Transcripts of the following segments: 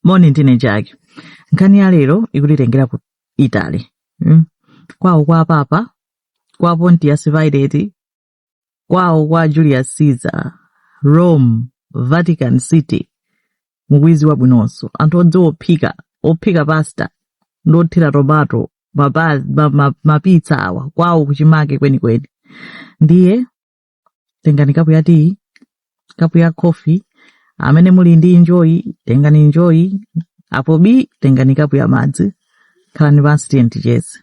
moni ndine chake nkhani ya lero ikutitengera ku italy mm? kwawo kwa papa kwa pontius pilate kwawo kwa julius caesar rome vatican city mukudziwa bwinonso anthu odziwa ophika ophika pasta ndi kuthira tomato mapitsa awa kwawo kuchimake kwenikweni ndiye tengani kapu ya tiyi kapu ya khofi amene muli ndi injoyi tengani injoyi apo bi tengani kapu ya madzi khalani pansi tiyeni ticheze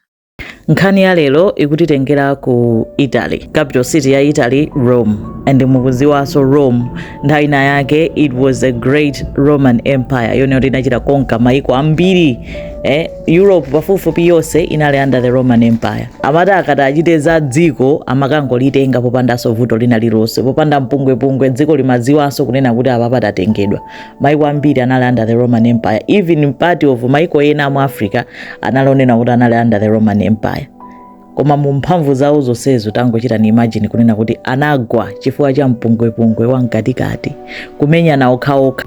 nkhani ya lero ikutitengera ku italy capital city ya italy rome and mukudziwanso rome nthawi ina yake it was a great roman empire yonena kuti inachita conquer maiko ambiri eh, europe pafupifupi yonse inali under the roman empire amati akati achite za dziko amakangolitenga popandanso vuto lina lilonse popanda mpungwepungwe dziko limadziwanso kunena kuti apa tatengedwa maiko ambiri anali under the roman empire even part of maiko ena mu africa anali onena kuti anali under the roman empire koma mu mphamvu zawo zonsezo tangochitani imagine kunena kuti anagwa chifukwa cha mpungwepungwe wa mkatikati kumenyana okhaokha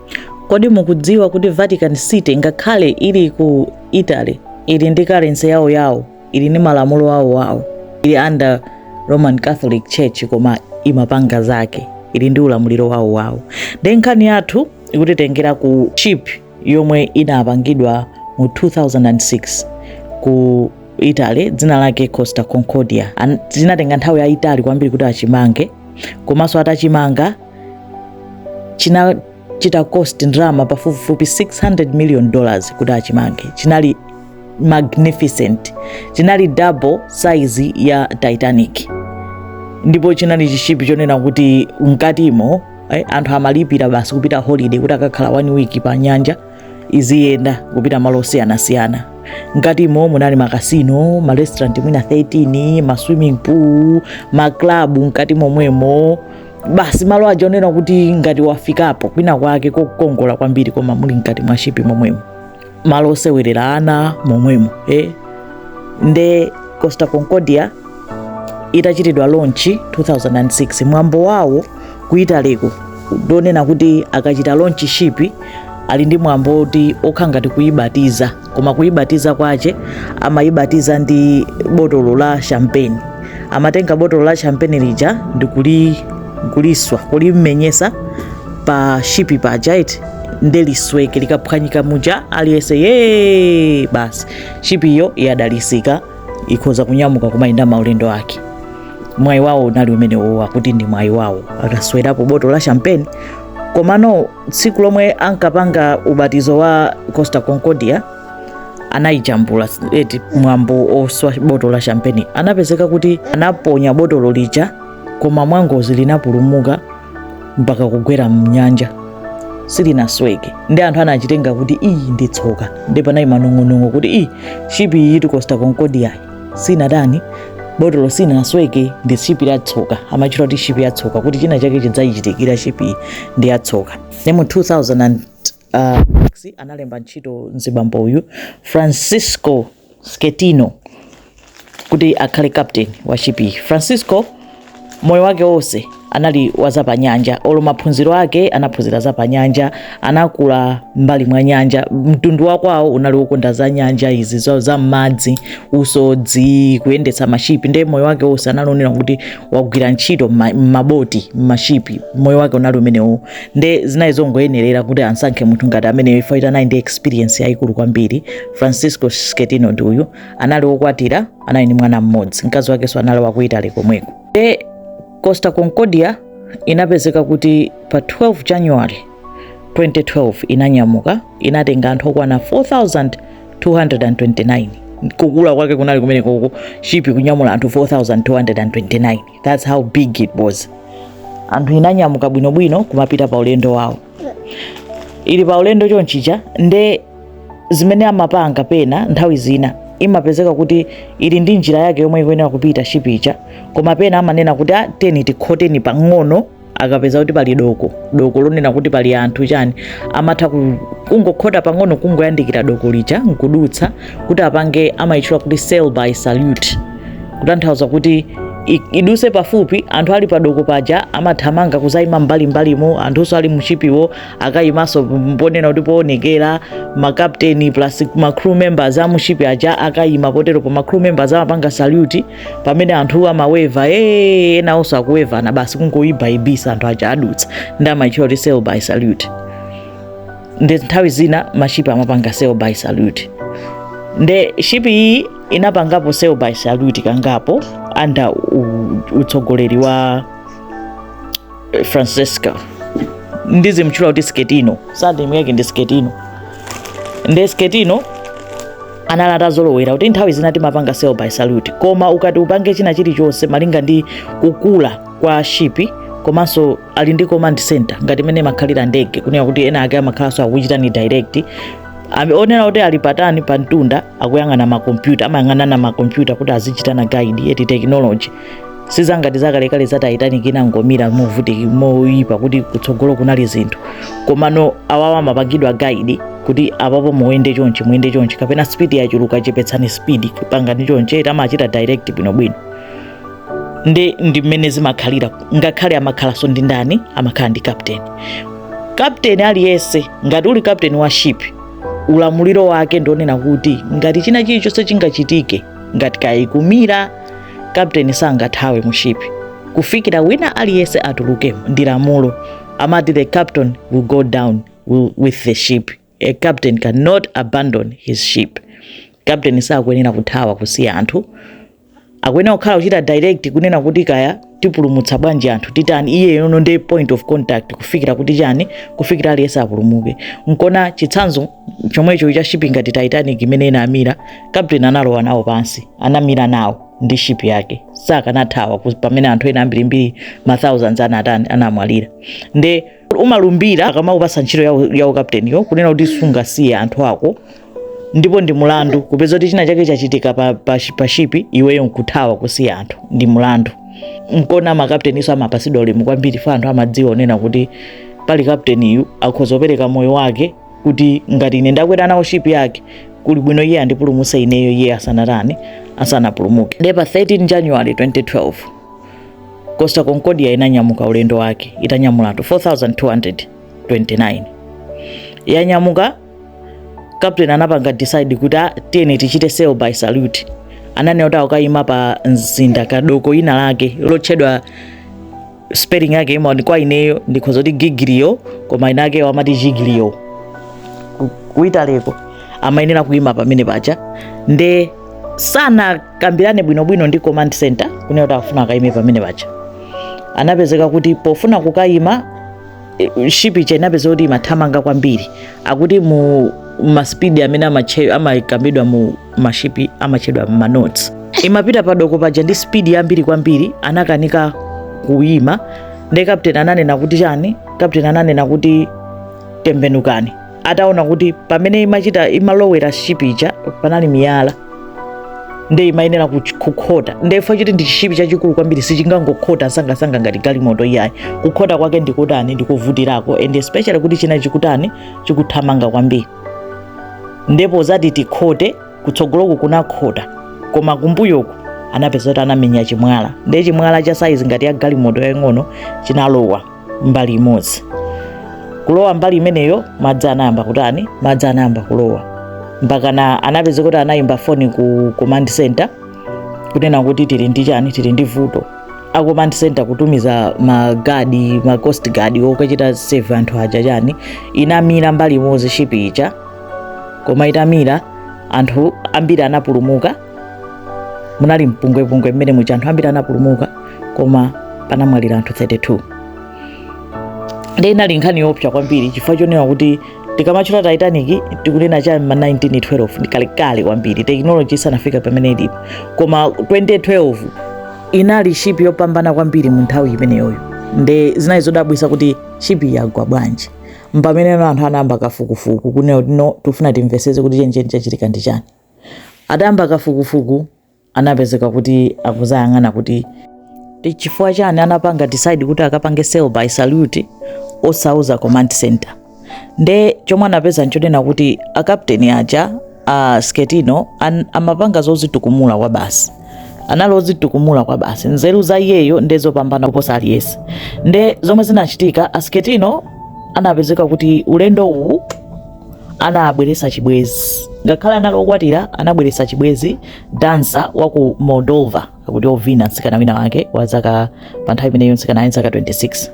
kodi mukudziwa kuti vatican city ngakhale ili ku italy ili ndi karensi yawo yawo ili ndi malamulo awo awo ili under roman catholic church koma imapanga zake ili ndi ulamuliro wawo wawo nde nkhani yathu ikutitengera ku ship yomwe inapangidwa mu 2006 ku italy dzina lake costa concordia chinatenga nthawi yayitali kwambiri kuti achimange komanso atachimanga chinachita cost ndalama pafupifupi 600 million dollars kuti achimange chinali magnificent chinali double size ya titanic ndipo chinali chishipi chonena kuti mkatimo eh, anthu amalipira basi kupita holiday kuti akakhala one week pa nyanja iziyenda kupita malo osiyanasiyana mkatimo munali makasino marestaurant mwina 13 maswimming pool maklabu mkati momwemo basi malo aja onena kuti ngati wafikapo kwina kwake kokongola kwambiri koma muli mkati mwa shipi momwemo malo osewerera ana momwemo eh? nde costa concordia itachitidwa launch 2006 mwambo wawo ku italyko ndonena kuti akachita launch ship ali ndi mwambo otiwo kukhala ngati kuibatiza koma kuibatiza kwache amaibatiza ndi botolo la champagne amatenga botolo la champagne lija ndikuliswa kulimenyesa pa shipi paja iti nde lisweke likaphwanyika muja aliyense ye basi shipi iyo yadalisika ikhoza kunyamuka kumayenda maulendo ake mwayi wawo unali umenewo kuti ndi mwayi wawo akaswerapo botolo la champagne komano tsiku lomwe ankapanga ubatizo wa costa concordia anayijambula eti mwambo oswa botolo la champagne anapezeka kuti anaponya botolo lija koma mwangozi linapulumuka mpaka kugwera mnyanja silinasweke nde anthu anachitenga kuti ii ndi tsoka nde panali manong'onong'o kuti ii shipi iyitu costa concordia sinatani botolo silinasweke ndi shipi ya tsoka amaitchula kuti shipi ya tsoka kuti china chake chidzayichitikira shipi ndi ya tsoka nde mu 2006 analemba ntchito mzibambo uyu francisco Schettino kuti akhale captain wa shipiyi. Francisco moyo wake wonse anali wa zapanyanja olo maphunziro ake anaphunzira zapanyanja anakula m'mbali mwa nyanja mtundu wakwawo unali wokonda za nyanja izi za, za m'madzi usodzi kuyendetsa mashipi ndiye moyo wake wonse anali wonena kuti wagwira ntchito m'ma- m'maboti m'mashipi moyo wake unali umenewo nde zinali zongoyenerera kuti ansankhe munthu ngati ameneyo chifukwa choti anali ndi experience yayikulu kwambiri Francisco Schettino ndi uyu anali wokwatira, anali ndi mwana mmodzi, mkazi wakenso anali wa ku Italy komweko. Nde Costa Concordia inapezeka kuti pa 12 January 2012 inanyamuka, inatenga anthu okwana 4,229. Kukula kwake kunali kumenekoko, shipi kunyamula anthu 4,229. That's how big it was. Anthu inanyamuka bwinobwino kumapita pa ulendo wawo. Ili pa ulendo chonchija nde zimene amapanga pena nthawi zina imapezeka kuti ili ndi njira yake yomwe ikuyenera kupita shipi ija, koma pena amanena kuti ah, tiyeni tikhoteni pang'ono akapeza kuti pali doko doko lonena kuti pali anthu chani amatha ku- kungokhota pang'ono kungoyandikira doko lija nkudutsa kuti apange amayitchula kuti sail by salute kutanthauza kuti i- iduse pafupi anthu ali padoko paja amathamanga kuzayima mbalimbalimo anthunso ali mushipiwo akayimanso ponena kuti poonekera ma captain plus ma crew members a mushipi aja akayima potero po ma crew members amapanga salute pamene anthu amaweva ee enawonso akuwevana basi kungoyibayibisa anthu aja adutsa nde amaitchula kuti sail by salute nde nthawi zina mashipi amapanga sail by salute nde shipi iyi inapangapo sail by salute kangapo under u- utsogoleri wa eh, Francesco ndizimtchula kuti sketino surname yake ndi sketino nde sketino anali atazolowera kuti nthawi zina timapanga sail by salute koma ukati upange china chilichonse malinga ndi kukula kwa shipi komanso ali ndi command center ngati mmene imakhalira ndege kunena kuti ena ake amakhalanso akuchitani direct onena kuti ali patani pa mtunda akuyang'ana makompyuta amayang'anana makompyuta kuti azichitana guide eti technology sizangati zakalekale za titanic inangomira movuti moyipa kuti kutsogolo kunali zinthu komano awawa amapangidwa guide kuti apapo muyende chonchi muyende chonchi kapena speed yachuluka chepetsani speed pangani chonchi eti amachita direct bwinobwino ndi ndi mmene zimakhalira ngakhale amakhalanso ndi ndani amakhala ndi captain captain aliyense ngati uli captain wa ship ulamuliro wake ndionena kuti ngati china chilichonse chingachitike ngati kaya ikumira kapteni sangathawe mu ship kufikira wina aliyense atuluke ndi lamulo amati the captain will go down with the ship a captain cannot abandon his ship captain sakuyenera kuthawa kusiya anthu akuyenera kukhala kuchita direct kunena kuti kaya tipulumutsa bwanji anthu titani iyeyono ndi point of contact kufikira kuti chani kufikira aliyense apulumuke nkona chitsanzo chomwecho cha shipi ngati titanic imene inamira captain analowa nawo pansi anamira nawo ndi shipi yake sakanathawa pamene anthu ena ambirimbiri ma thousands anatani anamwalira nde umalumbira akamakupasa ntchito ya ukapteniyo kunena kuti sungasiye anthu ako ndipo ndi mulandu kupeza kuti china chake chachitika pa, pa, pa shipi iweyo nkuthawa kusiya anthu ndi mulandu nkona makapteninso amapasidwa ulemu kwambiri fa anthu amadziwa onena kuti pali kapteniyu akhoza kupereka moyo wake kuti ngati ine ndakwera nawo shipi yake kuli bwino iye andipulumutse ineyo iye asanatani asanapulumuke nde pa 13 january 2012 Costa Concordia inanyamuka ulendo wake itanyamula anthu 4229 yanyamuka captain anapanga decide kuti ah, tiyeni tichite sail by salute ananena kuti akayima pa mzinda ka doko lina lake lotchedwa spelling yake imaoneka kwa ineyo ndikhoza kuti Giglio koma ena akewo amati Giglio ku Italy ko amayenera kuyima pamene paja nde sana kambirane bwinobwino ndi command center kunena kuti afuna akayime pamene paja anapezeka kuti pofuna kukayima eh, ship ija inapezeka kuti imathamanga kwambiri akuti mu maspidi amene amache- amakambidwa mu mashipi amatchedwa ma knots imapita padoko paja ndi spidi yambiri kwambiri anakanika kuyima nde kapteni ananena kuti chani kapteni ananena kuti tembenukani ataona kuti pamene imalowera shipi ija panali miyala nde imayenera kuch- kukhota nde if chili ndi chishipi chachikulu kwambiri sichingangokhota sangasanga ngati galimoto iyayi kukhota kwake ndikutani ndikuvutirako and especially kuti china chikutani chikuthamanga kwambiri ndipo zati tikhote kutsogoloku kunakhota koma kumbuyoku anapeza kuti anamenya chimwala ndiye chimwala cha saizi ngati ya galimoto yaying'ono chinalowa mbali imodzi kulowa mbali imeneyo madzi anayamba kutani madzi anayamba kulowa mpakana anapeza kuti anayimba foni ku command center kunena kuti tili ndi chani tili ndi vuto a command center kutumiza magadi ma coast guard okachita save anthu aja chani inamira mbali imodzi shipi ija koma itamira anthu ambiri anapulumuka munali mpungwepungwe mmene muja anthu ambiri anapulumuka koma panamwalira anthu 32 nde inali nkhani yoopsa kwambiri chifukwa chonena kuti tikamatchula titanic tikunena cha ma 1912 ndi kalekale kwambiri tekinoloji isanafika pamene ilipo koma 2012 inali shipi yopambana kwambiri mu nthawi imeneyoyo nde zinali zodabwisa kuti shipi yagwa bwanji mpamene anthu anayamba kafukufuku kunena kuti no tifuna timveseze kuti chencheni chachitika ndi chani Atayamba kafukufuku anapezeka kuti akuzayang'ana kuti chifukwa chani anapanga decide kuti akapange sail by salute osauza command center nde chomwe anapeza nchonena kuti akapteni aja a Schettino an, amapanga zozitukumula kwa basi anali ozitukumula kwa basi nzeru za iyeyo nde zopambana kuposa aliyese nde zomwe zinachitika a Schettino anapezeka kuti ulendo uwu anabweretsa chibwezi ngakhale anali okwatira anabweretsa chibwezi dansa wa ku moldova akuti ovina mtsikana wina wake wa zaka pa nthawi imeneyo mtsikana ali zaka 26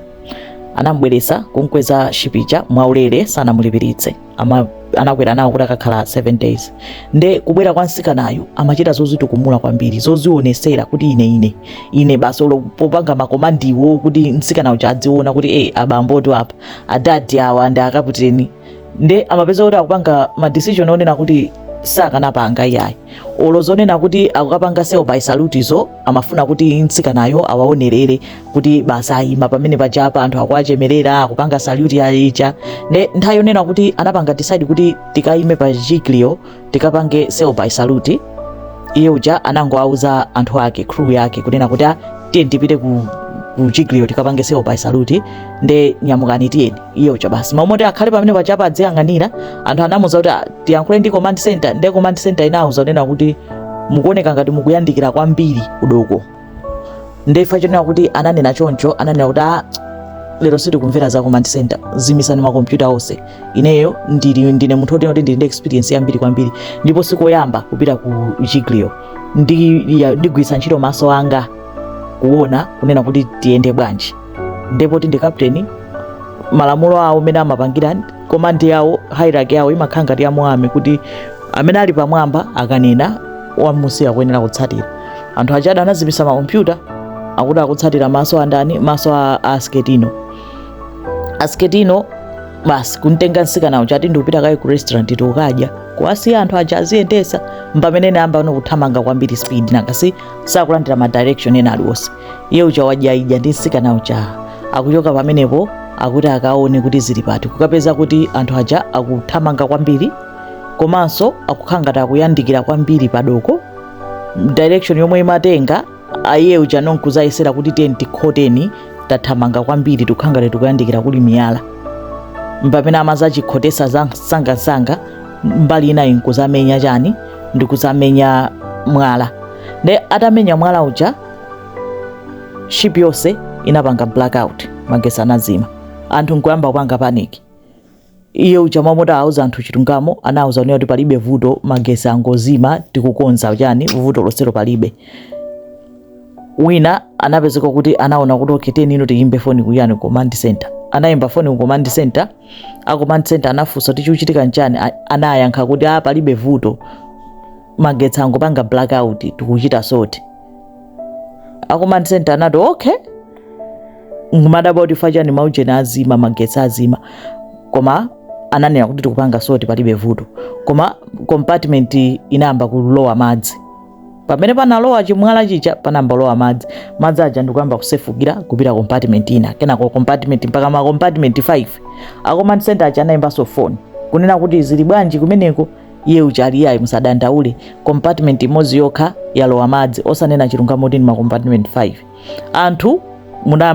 anamubweretsa kumkweza shipi ija mwaulere sanamulipiritse Ama- anakwera nawo kuti akakhale 7 days nde kubwera kwa mtsikanayu amachita zozitukumula kwambiri zozionesera kuti ine ine ine basi olo popanga makomandiwo kuti mtsikana uja adziona kuti e abamboti apa adadi awa ndi akaputeni nde amapeza kuti akupanga ma decision onena kuti sakanapanga iyayi olo zonena kuti akukapanga sail by salute zo amafuna kuti mtsikanayo awaonerere kuti basi ayima pamene pajapa anthu akuwachemerera akupanga salute ya ija nde nthawi yonena kuti anapanga decide kuti tikayime pa Giglio tikapange sail by salute iye uja anangowauza anthu ake crew yake kunena kuti "Ah, tiyeni tipite ku ku Giglio tikapange sail by salute nde nyamukani tiyeni iye uja basi m'malo moti akhale pamene paja apa adziyang'anira anthu anamuuza kuti "Ah, tiyankhule ndi command center nde command center inawuza kunena kuti mukuoneka ngati mukuyandikira kwambiri kudoko nde fa chonena kuti ananena choncho ananena kuti ah, lero sitikumvera za command center zimisani makompyuta onse ineyo ndili ndine munthu otena kuti ndili ndi experience yambiri kwambiri ndipo sikoyamba kupita ku Giglio ndigwiritsa ntchito maso anga kuona kunena kuti tiyende bwanji ndi poti ndi kapteni malamulo awo mmene amapangira command yawo hierarchy yawo imakhala ngati ya mu army kuti amene ali pamwamba akanena wamunsi akuyenera kutsatira anthu ajadi anazimisa makompyuta akuti akutsatira maso andani maso a a Schettino a Schettino basi kuntenga nsikana uja ati ndikupita kaye ku restaurant kukadya kuwasiya anthu aja aziyendesa mpamene anayambano kuthamanga kwambiri speed nakasi sakulandira ma direction ena aliwonse iye uja wadyaidya ndi nsikana uja akuchoka pamenepo akuti akaone kuti zili pati kukapeza kuti anthu aja akuthamanga kwambiri komanso akukhala ngati akuyandikira kwambiri padoko direction yomwe imatenga iye uja no nkuzayesera kuti tiyeni tikhoteni tathamanga kwambiri tikukhala ngati tikuyandikira kuli miyala mpamene amazachikhotesa zamsangamsanga mbali inayi nkuzamenya chani ndikuzamenya mwala nde atamenya mwala uja ship yonse inapanga blackout magesi anazima anthu nkuyamba kupanga panic iye uja mmalo moti auze anthu chilungamo anauza kunena kuti palibe vuto magesi angozima tikukonza chani vuto losero palibe wina anapezeka kuti anaona kuti okay teni ino tiyimbe foni kuyani ku command center anayimba foni ku command center a command center anafunsa kuti chikuchitika nchani anayankha kuti a ah, palibe vuto magetsi angopanga blackout tikuchita sort a command center anati okay nkumadabwa kuti chifukwa chani maujeni azima magetsi azima koma ananena kuti tikupanga sort palibe vuto koma compartment inayamba kulowa madzi pamene panalowa chimwala chija panayamba kulowa madzi madzi aja ndikuyamba kusefukira kupita compartment ina kenako compartment mpaka ma compartment 5 a command center aja anayimbanso phone kunena kuti zili bwanji kumeneko iye uja ali ayi musadandaule compartment imodzi yokha yalowa madzi osanena chilungamo kuti ndi ma compartment 5 anthu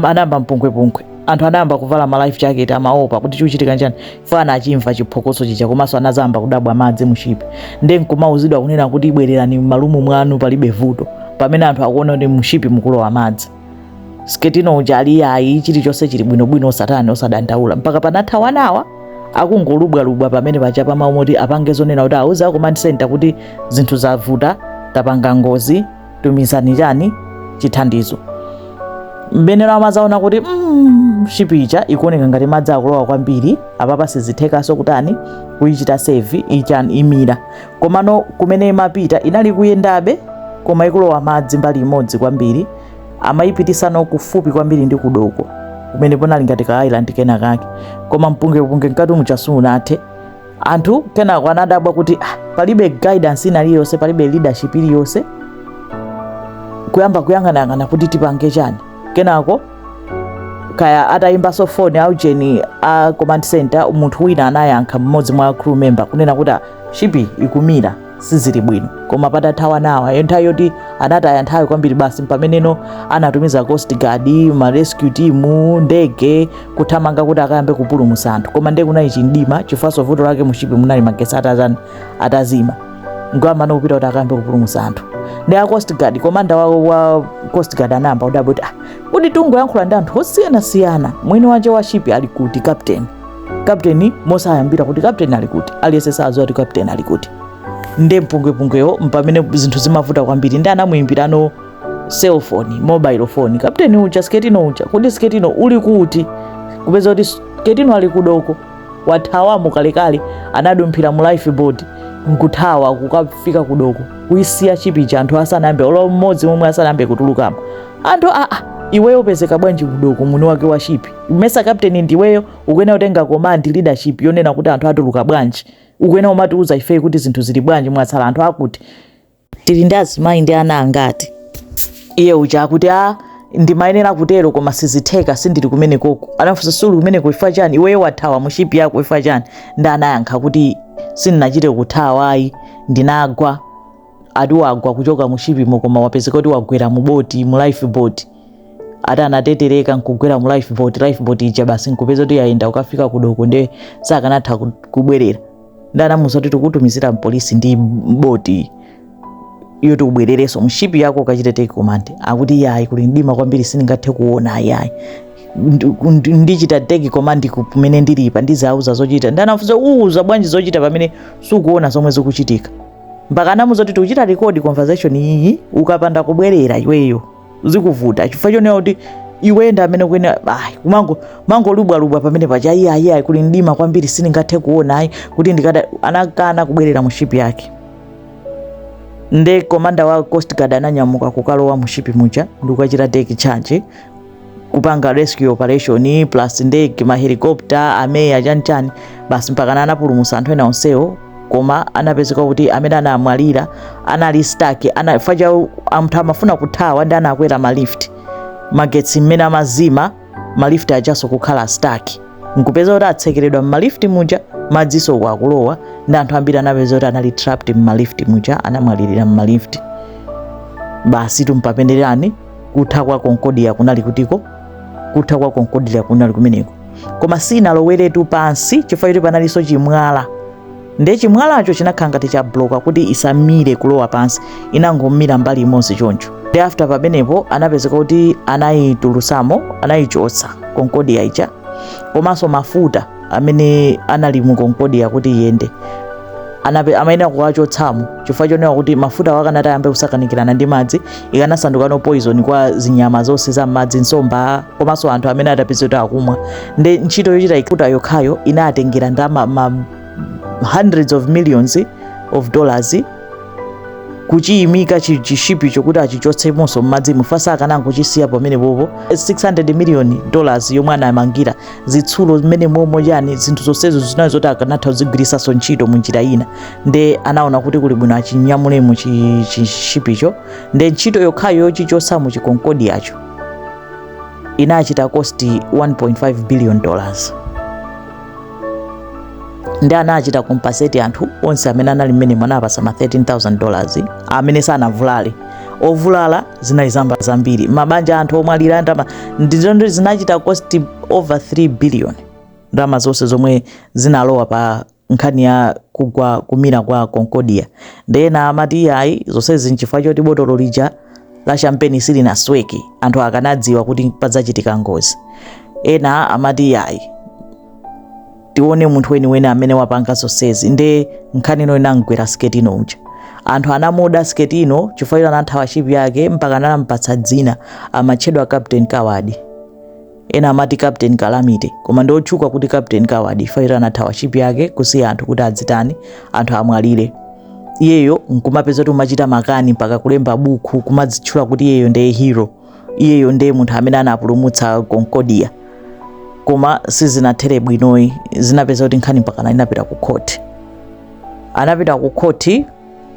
anayamba mpungwepungwe anthu anayamba kuvala ma life jacket amaopa kuti chikuchitika nchani fa anachimva chiphokoso chija komanso anazayamba kudabwa madzi mushipi nde nkumauzidwa kunena kuti bwererani m'ma room mwanu palibe vuto pamene anthu akuona kuti mushipi mukulowa madzi Schettino uja ali ayi chilichonse chili bwinobwino osatani osadandaula mpaka panatha one hour akungolubwalubwa pamene paja mmalo moti apange zonena kuti auze a command center kuti zinthu zavuta tapanga ngozi tumizani chani chithandizo mpameneno amazaona kuti mm, shipi ija ikuoneka ngati madzi akulowa kwambiri apapa sizithekaso kutani kuyichita save ichani imira komano kumene imapita inali kuyendabe koma ikulowa madzi mbali imodzi kwambiri amayipitisano kufupi kwambiri ndi kudoko kumene ponali ngati ka island kena kake koma mpungwepungwe mkati muchasunathe anthu kenako anadabwa kuti ah, palibe guidance ina iliyonse palibe leadership iliyonse kuyamba kuyang'anayang'ana kuti tipange chani kenako kaya atayimbanso foni aujeni a command center munthu wina anayankha mmodzi mwa crew member kunena kuti shipi ikumira sizili bwino koma patathawa ma hours nthawi yoti anataya nthawi kwambiri basi mpameneno anatumiza coast guard ma rescue team ndege kuthamanga kuti akayambe kupulumutsa anthu koma nde kunali chimdima chifukwa vuto lake mushipi munali magesi atazani atazima ngwamana kupita kuti akayambe kupulumutsa anthu ndi a coast guard komanda wa, wa coast guard anayamba kudabwa kuti ah, kuti tungoyankhula ndi anthu osiyanasiyana mwini wache wa shipi ali kuti captain kapteni mosaimbira kuti kapteni ali kuti aliyense sadziwa kuti kapteni ali kuti nde mpungwepungwewo mpamene zinthu zimavuta kwambiri nde anamuyimbirano cellphone mobile phone kapteni uja sketino uja kodi sketino uli kuti kupeza kuti sketino ali kudoko wathawamo kalekale anadumphira mu life boat nkuthawa kukafika kudoko kuisiya shipi ija anthu asanayambe olo mmodzi momwe asanayambe kutulukamo anthu aa iweyo upezeka bwanji kudoko mwini wake wa shipi mesa captain ndiweyo ukuyenera kutenga command leadership yonena kuti anthu atuluka bwanji ukuyenera umatiuza ifeyi kuti zinthu zili bwanji mwatsala anthu akuti tili ndi azimayi ndi ana angati iye uja akuti a ah, ndimayenera kutero koma sizitheka sindili kumene koko anafunsa suli kumene chifukwa chani iweyo wathawa mushipi yako chifukwa chani nde anayankha kuti sindinachite kuthawa ayi ndinagwa ati wagwa kuchoka mu shipimo koma wapezeka kuti wagwera mu boti mu life boat ati anatetereka nkugwera mu life boat life boat ija basi nkupeza kuti yayenda kukafika kudoko nde sakanatha ku- kubwerera nde anamuuza kuti tikutumizira mpolisi ndi boti iyo ubwererenso mshipi yako ukachite take command akuti yayi kuli mdima kwambiri sindingathe kuona ayayi Ndi- ndi- ndichita take command ku- kumene ndilipa ndizauza zochita nde anafunsa uuza bwanji zochita pamene sukuona zomwe zikuchitika mpaka anamuuza kuti tikuchita record conversation iyi ukapanda kubwerera iweyo zikuvuta chifukwa chonena kuti iwe ndi amene kuene ayi kumango mangolubwalubwa pamene paja iye ayi ayi kuli mdima kwambiri sindingathe kuona ayi kuti ndikada anakana kubwerera mu shipi yake nde komanda wa coast guard ananyamuka kukalowa mu shipi muja ndikukachita take charge kupanga rescue operation plus ndege mahelicopter ameya chanchani basi mpakana anapulumutsa anthu ena onsewo koma anapezeka kuti amene anamwalira anali stuck anafa aja anthu amafuna kuthawa nde anakwera malift magetsi mmene amazima malift ajaso kukhala stuck nkupeza kuti atsekeredwa mmalifti muja madziso uko akulowa nde anthu ambiri anapeza kuti anali trapped mmalifti muja anamwalirira mmalifti basi tumpapenderani kutha kwa konkodia kunali kutiko kutha kwa konkodia kunali kumeneko koma sinaloweretu pansi chifukwa choti panalinso chimwala nde chimwalacho chinakhala ngati chabloka kuti isamire kulowa pansi inangomira mbali imodzi choncho nde after pamenepo anapezeka kuti anayitulusamo anayichotsa konkodia ija komanso mafuta amene anali mu konkodia kuti iyende anape amayenera kuwachotsamo chifukwa chonena kuti mafuta awo akanati ayambe kusakanikirana ndi madzi ikanasandukano poison kwa zinyama zonse za m'madzi nsomba komanso anthu amene atapezeka akumwa nde ntchito yochita ikuta yokhayo inatengera ndama ma hundreds of millions of dollars kuchiyimika chi- chishipicho kuti achichotsemonso m'madzimo chifukwa akanangochisiya pamenepopo 600 million dollars yomwe anamangira zitsulo za mmenemomo chani zinthu zonsezo zinali zoti akanatha kuzigwiritsanso ntchito mu njira ina nde anaona kuti kuli bwino achinyamulemo chi- chishipicho nde ntchito yokhayo yochichotsa mu chikonkodiyacho inachita cost 1.5 billion dollars nde anachita compensate anthu onse amene anali mmenemo anawapatsa ma 13000 dollars amene sanavulale ovulala zinali zambi- zambiri mabanja anthu omwalira ndama ndi zonse zinachita cost over 3 billion ndama zonse zomwe zinalowa pa nkhani ya kugwa kumira kwa concordia nde ena amati iyayi zonsezi nchifukwa choti botolo lija la champagne silinasweke anthu akanadziwa kuti padzachitika ngozi ena amati iyayi tione munthu weniweni amene wapanga zonsezi nde nkhani ino inamgwera schettino uja anthu anamuda schettino chifukwa choti anathawa ship yake mpaka anampatsa dzina amatchedwa captain coward ena amati captain calamity koma ndi otchuka kuti captain coward chifukwa choti anathawa ship yake kusiya anthu kuti adzitani anthu amwalire iyeyo nkumapezeka kuti kumachita makani mpaka kulemba buku kumadzitchula kuti iyeyo ndiye hero iyeyo ndiye munthu amene anapulumutsa concordia koma sizinathere bwinoyi zinapeza kuti nkhani mpakana inapita ku khoti anapita ku khoti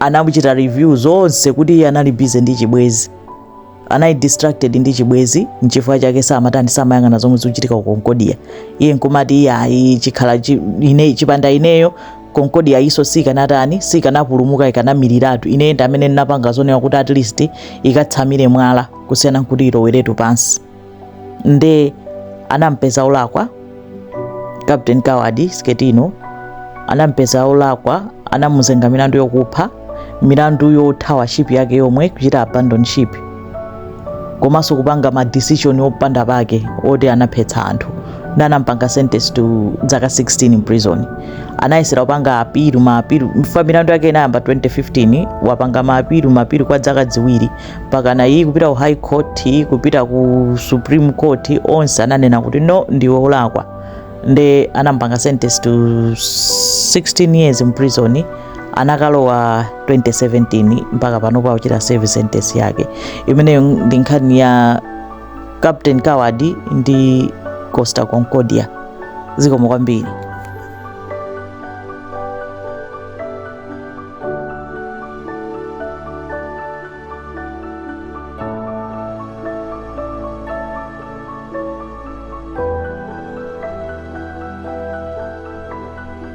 anachita review zonse kuti iye anali busy ndi chibwezi anali distracted ndi chibwezi nchifukwa chake samatani samayang'ana zomwe zikuchitika ku concordia iye nkumati iye ayi chikhala chi- ine chipanda ineyo Concordia iyiso sikanatani sikanapulumuka ikanamiriratu ine ndi amene ndinapanga zonena kuti at least ikatsamire mwala kusiyana nkuti iloweretu pansi nde anampeza olakwa captain coward Schettino anampeza olakwa anamuzenga milandu yokupha milandu yothawa ship yake yomwe kuchita abandon ship komanso kupanga ma decision opanda pake oti anaphetsa anthu nde anampanga sentence to zaka 16 in prison anayesera kupanga appeal ma appeal chifukwa milandu yake inayamba 2015 wapanga ma appeal ma appeal kwa zaka ziwiri mpakana iyi kupita ku high court iyi kupita ku supreme court onse ananena kuti no ndiwe olakwa nde anampanga sentence to 16 years in prison anakalowa 2017 mpaka panopo akuchita serve sentence yake imeneyo ndi nkhani ya captain coward ndi costa concordia zikomo kwambiri